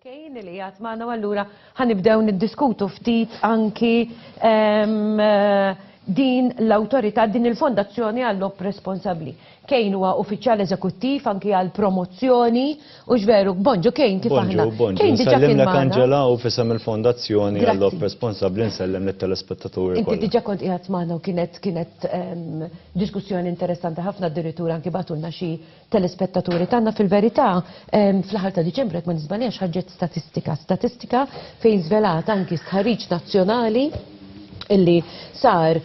Kejn li jgħat maħna għallura ħanibdew niddiskutu ftit anki ehm, din l-autorità, din il-fondazzjoni għall-op responsabli. Kejn huwa uffiċjal eżekuttiv anki għal promozzjoni u ġveru, bonġu kejn kif aħna. Kejn diġa kien Angela u fisem il-fondazzjoni għall-op responsabli nsellem l-telespettatur. Inti diġa kont qiegħed magħna u kienet kienet ehm, Diskussjoni interessanti ħafna addirittura anki bagħtulna xi telespettaturi tagħna fil-verità fl-aħħar ta' Diċembru jekk ma niżbaljax ħarġet statistika, statistika fejn żvelat anki stħarriġ nazzjonali illi sar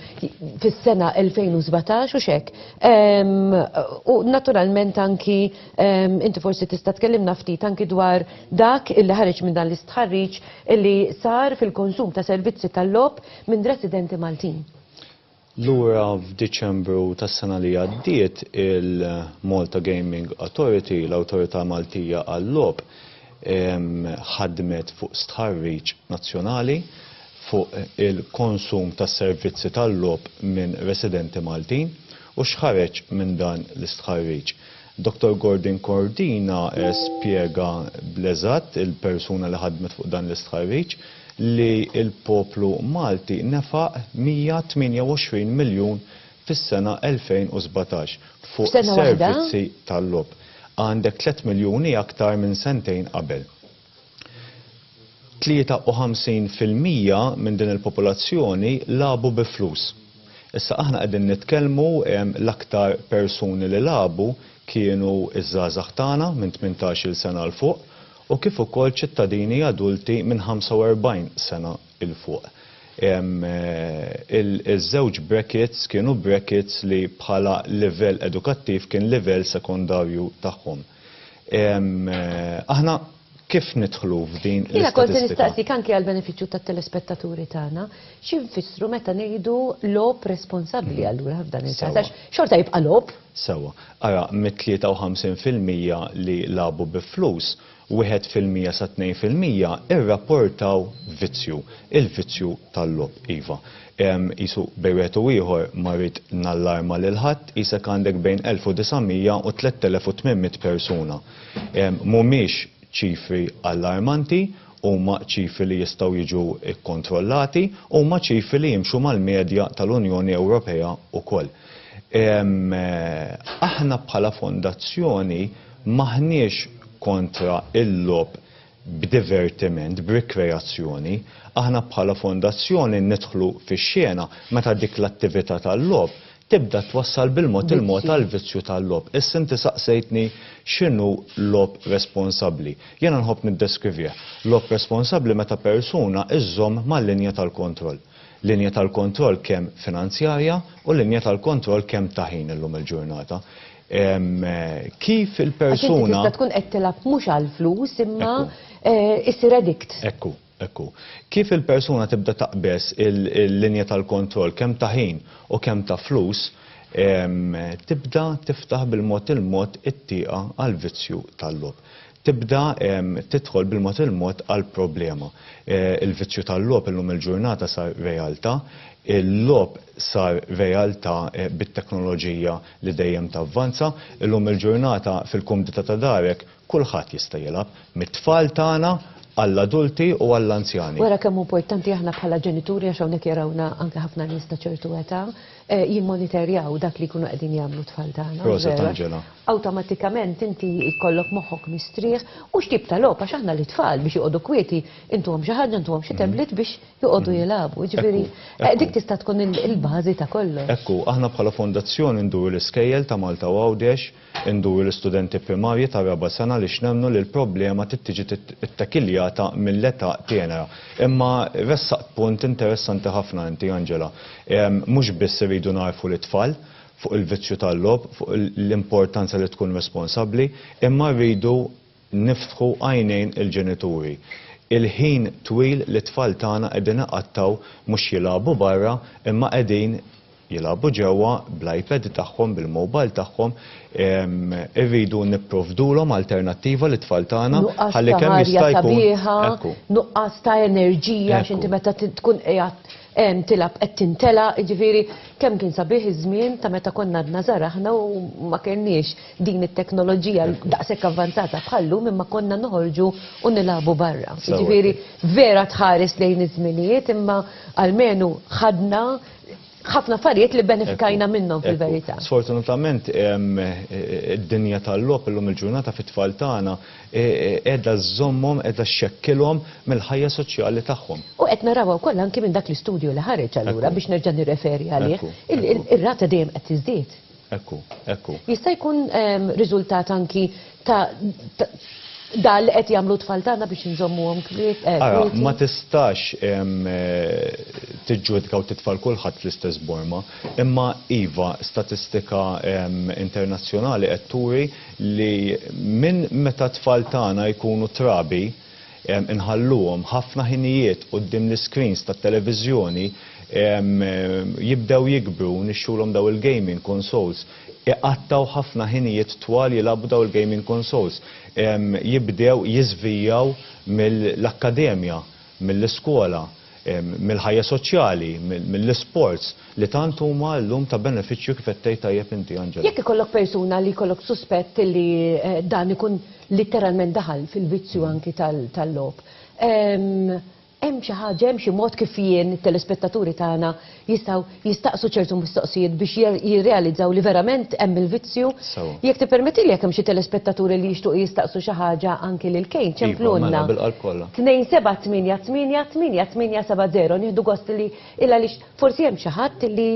fis-sena 2017 u xek. U naturalment anki inti forsi tista' tkellimna ftit anki dwar dak illi ħareġ minn dan l-istħarriġ illi sar fil-konsum ta' servizzi tal-logħob minn residenti Maltin. Lura f'Diċembru tas-sena li għaddiet il-Malta Gaming Authority, l-Awtorità Maltija għal-Logħob, ħadmet fuq stħarriġ nazzjonali fuq il-konsum ta' servizzi tal-logħob minn residenti Maltin u x'ħareġ minn dan l-istħarriġ. Dottor Gordon Cordina spjega bl-eżatt, il-persuna li ħadmet fuq dan l-istħarriġ, li l-poplu Malti nefaq 128 miljun fis-sena 2017 fuq servizzi tal-logħob. Għandek tliet miljuni aktar minn sentejn qabel. 53 fil-mija minn din il-popolazzjoni lagħbu bi flus. Issa aħna qegħdin nitkellmu l-aktar persuni li lagħbu kienu ż-żgħażagħ tagħna minn 18-il sena 'l fuq u kif ukoll ċittadini adulti minn 45 sena 'l fuq. Iż-żewġ brackets kienu brackets li bħala livell edukattiv kien livell sekondarju tagħhom. Aħna kif nidħlu f'din l-istatistika? Jiena kont se nistaqsik anke għall-benefiċċju tat-telespettaturi tagħna, xi nfissru meta ngħidu logħob responsabbli allura f'dan il-każ għax xorta jibqa' logħob. Sewwa. Ara, mit-53 fil-mija li lagħbu bi flus, wieħed fil-mija sa tnejn fil-mija rrapportaw vizzju, il-vizzju tal-logħob, iva. Qisu bejn wieħed u ieħor ma rrid nallarma lil ħadd, qisek għandek bejn 1,900 u 3,800 persuna. Mhumiex ċifri allarmanti, huma ċifri li jistgħu jiġu kkontrollati, huma ċifri li jimxu mal-medja tal-Unjoni Ewropea wkoll. Aħna bħala fondazzjoni m'aħniex kontra l-logħob b'divertiment, b'rikreazzjoni, aħna bħala fondazzjoni nidħlu fix-xena meta dik l-attività tal-logħob tibda twassal bil-mod il-mod għal vizzju tal-logħob. Issa inti saqsejtni x'inhu logħob responsabbli. Jiena nħobb niddeskrivih. Logħob responsabbli meta persuna żżomm mal-linja tal-kontroll. Linja tal-kontroll kemm finanzjarja u linja tal-kontroll kemm ta' ħin illum il-ġurnata. kif il-persuna. Għax tista' tkun qed tilgħab mhux għall-flus imma issir addict. Ekku, ekku. Kif il-persuna tibda taqbeż il-linja tal-kontroll kemm ta' ħin u kemm ta' flus, tibda tiftaħ bil-mod il-mod it-tieqa għall-vizzju tal-logħob. tibda tidħol bil-mod il-mod għall-problema. Il-vizzju tal-logħob illum il-ġurnata sar realtà, il-logħob sar realtà bit-teknoloġija li dejjem tavvanza, illum il-ġurnata fil-kumdità ta' darek kulħadd jista' jilgħab, mit-tfal tagħna għall-adulti u għall-anzjani. Wara kemm hu importanti aħna bħala ġenituri għax hawnhekk jarawna anke ħafna nies ta' ċertu età, jimmonitorjaw dak li jkunu qegħdin jagħmlu t-tfal tagħna. Proset Angela. Awtomatikament inti jkollok moħħok mistrieħ u x'tip ta' logħob għax aħna lit-tfal biex joqogħdu kwieti intuhom xi ħaġa intuhom xi tablet biex joqogħdu jilagħbu. Jiġifieri dik tista' tkun il-bażi ta' kollox. Ekku, aħna bħala fondazzjoni nduru l-iskejjel ta' Malta u Għawdex, Induru l-istudenti primarji tar-raba' sena għaliex nemmnu li l-problema trid tiġi ttekiljata mill-età tenera. Imma ressaqt punt interessanti ħafna inti Angela. Mhux biss irridu ngħarrfu lit-tfal fuq il-vizzju tal-logħob, fuq l-importanza li tkun responsabbli, imma rridu niftħu għajnejn il-ġenituri. Il-ħin twil li t-tfal tagħna qegħdin iqattgħu mhux jilagħbu barra imma qegħdin jilagħbu ġewwa bl-iPad tagħhom, bil-mobile tagħhom, irridu nipprovdulhom alternattiva lit-tfal tagħna ħalli kemm jista' jkun. Nuqqas ta' ħajja sabiħa, ekku. Nuqqas ta' enerġija għax inti meta tkun qiegħed tilgħab qed tintelaq, jiġifieri kemm kien sabiħ iż-żmien ta' meta konna għadna żgħar aħna u ma kellniex. din it-teknoloġija daqshekk avvanzata bħal llum imma konna noħorġu u nilagħbu barra. Jiġifieri vera tħares lejn iż-żminijiet imma almenu ħadna ħafna affarijiet li benefikajna minnhom fil-verità. Sfortunatament id-dinja tal-logħob illum il-ġurnata fit-tfal tagħna qiegħda żżommhom qiegħda xxekkilhom mill-ħajja soċjali tagħhom. U qed narawha wkoll anki minn dak l-istudju li ħareġ allura biex nerġa' nirreferi għalih, ir-rata dejjem qed tiżdied. Hekk hu, hekk hu. Jista' jkun riżultat anki ta' dan li qed jagħmlu t-tfal tagħna biex inżommuhom kwieti. Ara, ma tistax tiġġudika u titfa' 'l kulħadd fl-istess borma, imma iva, statistika internazzjonali qed turi li minn meta t-tfal tagħna jkunu trabi, inħalluhom ħafna ħinijiet quddiem l-iscreens tat-televiżjoni jibdew jikbru u nixtulhom dawn il-gaming consoles iqattgħu ħafna ħinijiet twal jilagħbu dawn il-gaming consoles jibdew jiżvijaw mill-akkademja, mill-iskola. mill-ħajja soċjali, mill-isports, li tant huma llum ta' benefiċċju kif qed tgħid tajjeb inti Angela. Jekk ikollok persuna li jkollok suspett li dan ikun litteralment daħal fil-vizzju anki tal-logħob, hemm xi ħaġa, hemm xi mod kif jien, it-telespettaturi tagħna, jistgħu jistaqsu ċertu mistoqsijiet biex jirrealizzaw li verament hemm il-vizzju. Jekk tippermettili jekk hemm xi telespettaturi li jixtuq jistaqsu xi ħaġa anki lil Kane, ċemplulna. Mela, bil-qalb kollha. 27888870 nieħdu gost li il għaliex forsi hemm xi ħadd li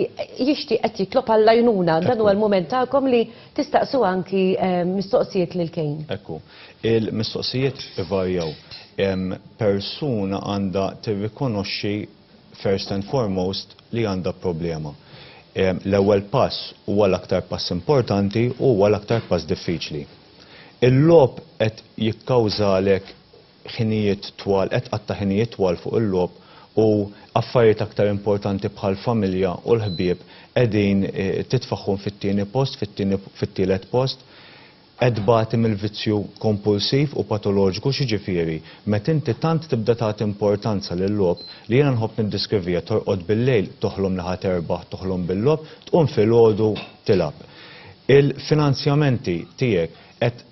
jixtieq qed jitlob għall-għajnuna. Dan huwa l-mument tagħkom li tistaqsu anki mistoqsijiet lil Kane. Hekk hu. Il-mistoqsijiet ivarjaw. Persuna għandha tirrikonoxxi first and foremost, li għandha problema. L-ewwel pass huwa l-aktar pass importanti u huwa l-aktar pass diffiċli. Il-logħob qed jikkawżalek ħinijiet twal, qed tqatta' ħinijiet twal fuq il-logħob u affarijiet aktar importanti bħall-familja u l-ħbieb qegħdin titfagħhom fit-tieni post, fit-tieni, fit-tielet post. Qed tbati mill-vizzju kompulsiv u patoloġiku x'jiġifieri met inti tant tibda tagħti importanza lil-logħob li jiena nħobb niddiskrivija torqod bil-lejl toħlom li ħa terbaħ toħlom bil-logħob tqum filgħodu tilgħab. Il-finanzjamenti tiegħek qed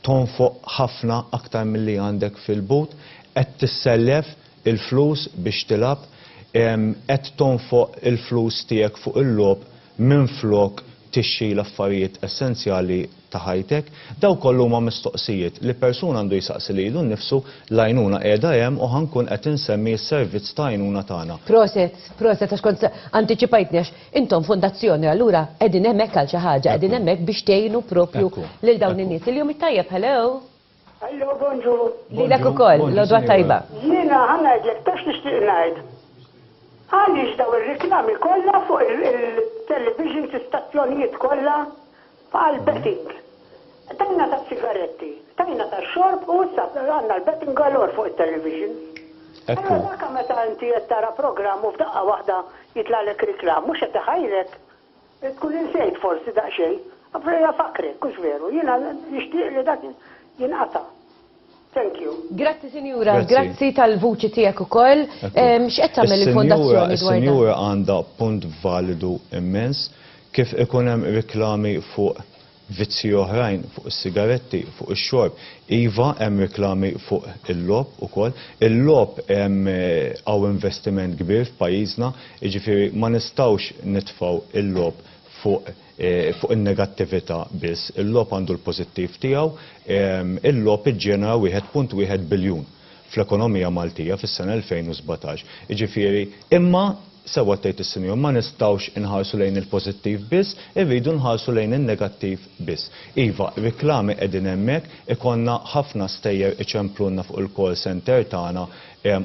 tonfoq ħafna aktar milli għandek fil-but, qed tissellef il-flus biex tilgħab, qed tonfoq il-flus tiegħek fuq il-logħob minflok tixxi l-affarijiet essenzjali ta' ħajtek? Dawn kollha huma mistoqsijiet li persuna għandu jsaqsi lilu nnifsu, l-għajnuna qiegħda hemm u ħa nkun qed insemmi s-servizz ta' għajnuna tagħna. Proset, proset għax kont antiċipajtni għax intom fondazzjoni allura qegħdin hemmhekk għal xi ħaġa, qegħdin hemmhekk biex tgħinu proprju lil dawn in-nies. Il-jum it-tajjeb, hello! Allo, bonġur. Lilek ukoll, l-odwa tajba. Jiena ħanajdlek tax nixtieq ngħid. Għaliex daw ir-riklami kollha fuq il-television istazzjonijiet kollha għal betting. Tajna ta' sigaretti, tajna ta' xorb u issa għandna l-betting galor fuq it-television. Ekku. Allora meta inti qed tara programm u f'daqqa waħda jitlalek riklam, mhux qed iħajrek Tkun insejt forsi daqsxejn. Avrei afakkrek, hux veru? Jiena nixtieq li dak jinqata'. Thank you. Grazzi sinjura, grazzi tal-vuċi tiegħek ukoll. X'qed tagħmel il-fondazzjoni dwar dan? Is-sinjura għandha punt validu immens. Kif ikun hemm riklami fuq Vizzji oħrajn, fuq is-sigaretti, fuq ix-xorb. Iva, hemm riklami fuq il-logħob ukoll. Il-logħob hemm hawn investiment kbir f'pajjiżna, jiġifieri ma nistgħux nitfgħu l-logħob fuq fuq in-negattività biss. Il-logħob għandu l-pożittiv tiegħu. Il-logħob iġġenera 1.1 biljun fl-ekonomija Maltija fis-sena 2017. Jiġifieri. Imma Sewwa tgħid is-Sinjur, ma nistgħux inħarsu lejn il-pożittiv biss, irridu nħarsu lejn in-negattiv biss. Iva, riklami qegħdin hemmhekk, ikollna ħafna stejjer iċemplulna fuq il-call centre tagħna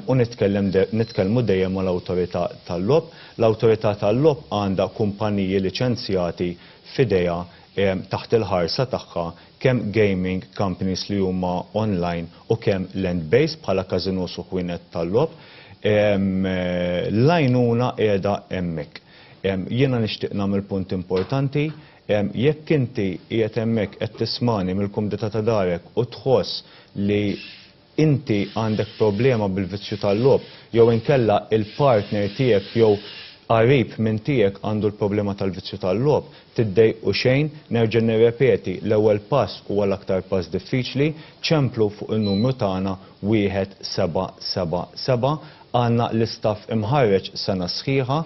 u nitkellem nitkellmu dejjem mal-Awtorità tal-Logħob. L-Awtorità tal-Logħob għandha kumpaniji liċenzjati f'idejha taħt il-ħarsa tagħha kemm gaming companies li huma online u kemm land-based bħala każinòs u ħwienet tal-logħob, l-għajnuna qiegħda hemmhekk. Jiena nixtieq nagħmel punt importanti, jekk inti qiegħed hemmhekk qed tismagħni mill-kumdità ta' darek u tħoss li inti għandek problema bil-vizzju tal-logħob jew inkella l-partner tiegħek jew qarib minn tiegħek għandu l-problema tal-vizzju tal-logħob, tiddejqu xejn, nerġa' nirrepeti, l-ewwel pass huwa l-aktar pass diffiċli, ċemplu fuq in-numru tagħna 1777, għandna l-istaff imħarreġ sena sħiħa,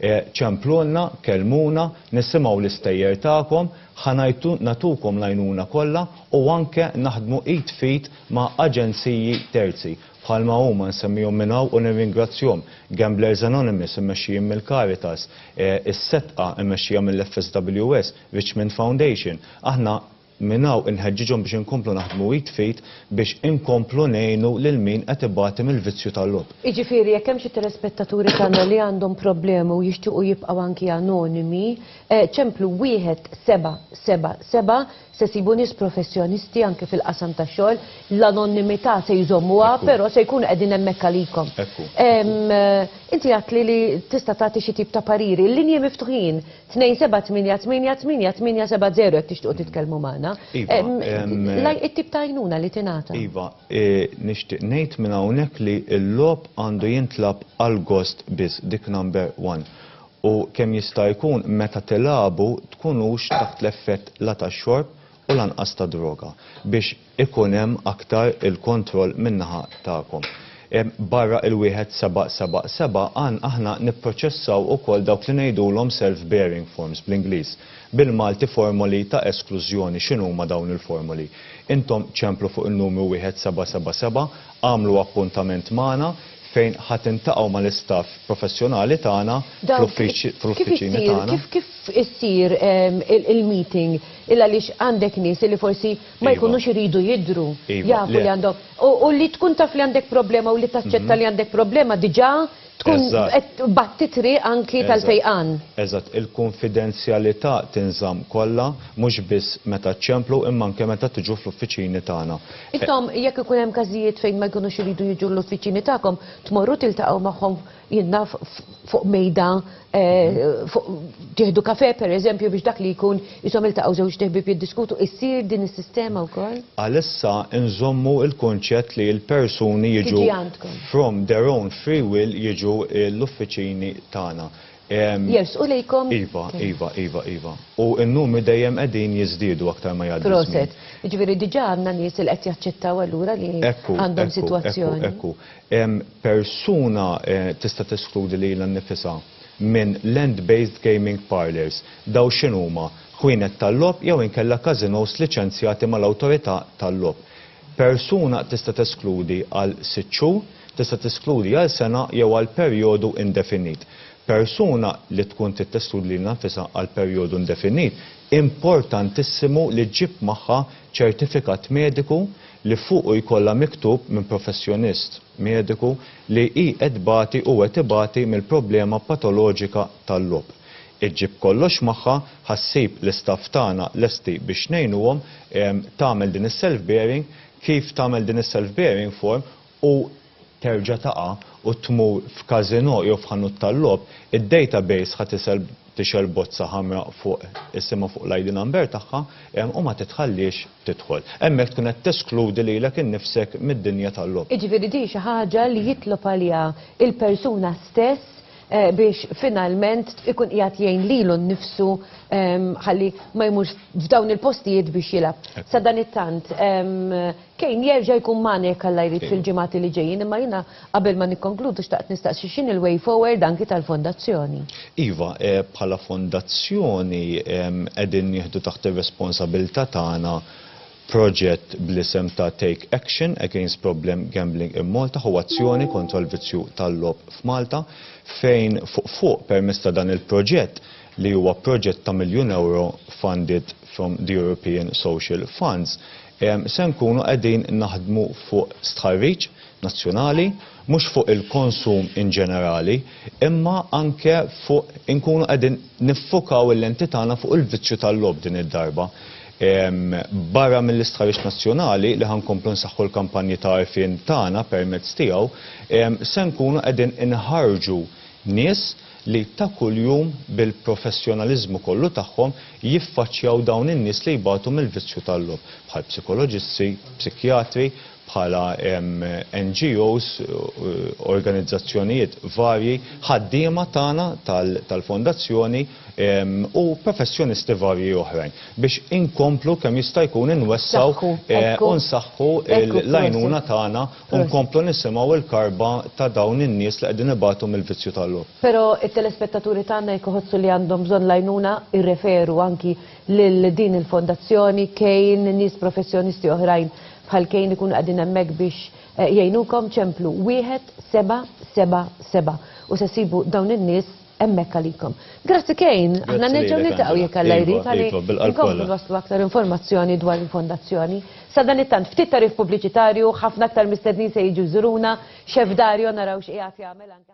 Ċemplulna, kellmuna, nisimgħu l-istejjer tagħkom, ħa nagħtukom l-għajnuna kollha u anke naħdmu id f'id ma' aġenziji terzi, bħalma huma, nsemmihom minn hawn u nirringrazzjhom, Gamblers Anonymous immexxijin mill-Caritas, Is-Setqa mmexxija mill-FSWS, Richmond Foundation. Aħna. Minn hawn inħeġġiġhom biex inkomplu naħdmu id f'id biex inkomplu ngħinu lil min qed ibati mill-vizzju tal-logħob. Jiġifieri jekk hemm xi telespettaturi tagħna li għandhom problemi u jixtiequ jibqgħu anki anonimi, ċemplu wieħed seba' seba' seba' se jsibu nies professjonisti anki fil-qasam tax-xogħol, l-anonnimità se jżommuha però se jkunu qegħdin hemmhekk għalikom. Inti għedtli li tista' tagħti xi tip ta' pariri. Il-linji miftuħin. 2-7-8-8-8-8-7-0 jekk tixtiequ titkellmu magħna. Iva, Em, em, laj- It-tip ta' għajnuna li tingħata. Iva, eh, nixtieq ngħid minn hawnhekk li l-logħob għandu jintlagħab għall-gost biss, dik number one. U kemm jista' jkun meta tilagħbu tkunux taħt l-effett la tax-xorb u lanqas ta' droga biex ikun hemm aktar il-kontroll min-naħa tagħkom. Barra il-wieħed seba' seba' seba' għan aħna nipproċessaw ukoll dawk li ngħidulhom self-bearing forms bl-Ingliż, bil-Malti formoli ta' esklużjoni. X'inhuma dawn il-formoli? Intom ċemplu fuq in-numru wieħed seba' seba' seba', agħmlu appuntament magħna fejn ħa tiltaqgħu mal-istaff professjonali tagħna fl-uffiċini tagħna. Kif issir il-meeting? Il-għaliex għandek nies li forsi. Ma jkunux iridu jidhru, jafu li għandhom, u li tkun taf li għandek problema u li taċċetta li għandek problema diġà tkun qed tbatti t-triq anki tal-fejqan. Eżatt, il-kunfidenzjalità tinżamm kollha, mhux biss meta ċċemplu imma anke meta tiġu fl-uffiċini tagħna. Intom jekk ikun hemm każijiet fejn ma jkunux iridu jiġu l-uffiċini tagħkom, tmorru tiltaqgħu magħhom? jenna fuq mejda eh, tieħdu kafe per eżempju biex dak li jkun jisom il-taqaw żewġ teħbib jiddiskutu issir din is-sistema wkoll? Għalissa nżommu il-kunċett li l-persuni jiġu from their own free will jiġu l-uffiċini tagħna. Jers, u lejkom? Iva, iva, iva, iva. U n-numri dejjem qegħdin jiżdiedu aktar ma jgħaddu. Proset. Ġifieri diġà għandna nies li qed jaċċettaw allura li għandhom sitwazzjoni. Ekku, ekku. persuna tista' teskludi lilha nnifisha minn land-based gaming parlours. Dawn x'inhuma? Ħwienet tal-logħob jew inkella każinòs liċenzjati mal-awtorità tal-logħob. Persuna tista' teskludi għal sitt xhur, tista' teskludi għal sena jew għal perjodu indefinit. Persuna li tkun trid teskludi lilha nnifisha għal perjodu indefinit, importantissimu li ġġib magħha ċertifikat mediku li fuqu jkollha miktub minn professjonist mediku li hi qed tbati u qed ibati mill-problema patoloġika tal-logħob. Iġġib kollox magħha, ħa ssib l-istaff tagħna lesti biex ngħinuhom tagħmel din is-self-bearing, kif tagħmel din is-self-bearing form, u terġa' taqa' u tmur f'każinò jew f'ħanut tal-logħob, id-database ħa tisel tixgħel bozza ħamra fuq isimha fuq l-ID number tagħha u ma titħalliex tidħol. Hemmhekk tkun qed teskludi lilek innifsek mid-dinja tal-logħob. Jiġifieri din xi ħaġa li jitlob għaliha l-persuna stess biex finalment ikun qiegħed jgħin lilu nnifsu ħalli ma jmurx f'dawn il-postijiet biex jilgħab. Sadanittant, Kane jerġa' jkun magħna jekk Alla jrid fil-ġimgħati li ġejjin imma jiena qabel ma nikkonkludu xtaqt nistaqsi x'inhi l-way forward anki tal-Fondazzjoni. Iva, bħala Fondazzjoni qegħdin nieħdu taħt ir-responsabilità tagħna proġett bl-isem ta' Take Action Against Problem Gambling in Malta ħu azzjoni kontra l-vizzju tal-logħob f'Malta fejn fuq fuq permezz ta' dan il-proġett li huwa proġett ta' miljun ewro funded from the European Social Funds Se nkunu qegħdin naħdmu fuq stħarriġ nazzjonali, mhux fuq il-konsum in ġenerali, imma anke fuq inkunu qegħdin niffokaw il-lenti tagħna fuq il-vizzju tal-logħob din id-darba. Barra mill-istħarriġ nazzjonali, li ħa nkomplu nsaħħu l-kampanji ta' għarfien tagħna permezz tiegħu, se nkunu qegħdin inħarrġu nies, li ta' kuljum bil-professjonaliżmu kollu tagħhom jiffaċċjaw dawn in-nies li jbatu mill-vizzju tal-logħob, bħal psikoloġisti, psikjatri, bħala NGOs, organizzazzjonijiet varji, ħaddiema tagħna tal-Fondazzjoni u professjonisti varji oħrajn, biex inkomplu kemm jista' jkun inwessgħu u nsaħħu l-għajnuna tagħna. U nkomplu nisimgħu l-karba ta' dawn in-nies li qegħdin ibatu mill-vizzju tal-logħob. Però t-telespettaturi tagħna jekk iħossu li għandhom bżonn l-għajnuna jirreferu anki lil din il-fondazzjoni, Kane, nies professjonisti oħrajn bħal Kane ikunu qegħdin hemmhekk biex jgħinukom, ċemplu wieħed seba' seba' seba' u se ssibu dawn in-nies Emmek għalikom. Grazzi Kejn, għanna nerġaw niltaqgħu jekk Alla iva, jrid għalik. Iva, iva, Inkomplu waslu aktar informazzjoni dwar il-fondazzjoni. Sadan it-tant ftit tarif pubbliċitarju, ħafna aktar mistednin se jiġu żuruna, xef Dario naraw x'qiegħed jagħmel anke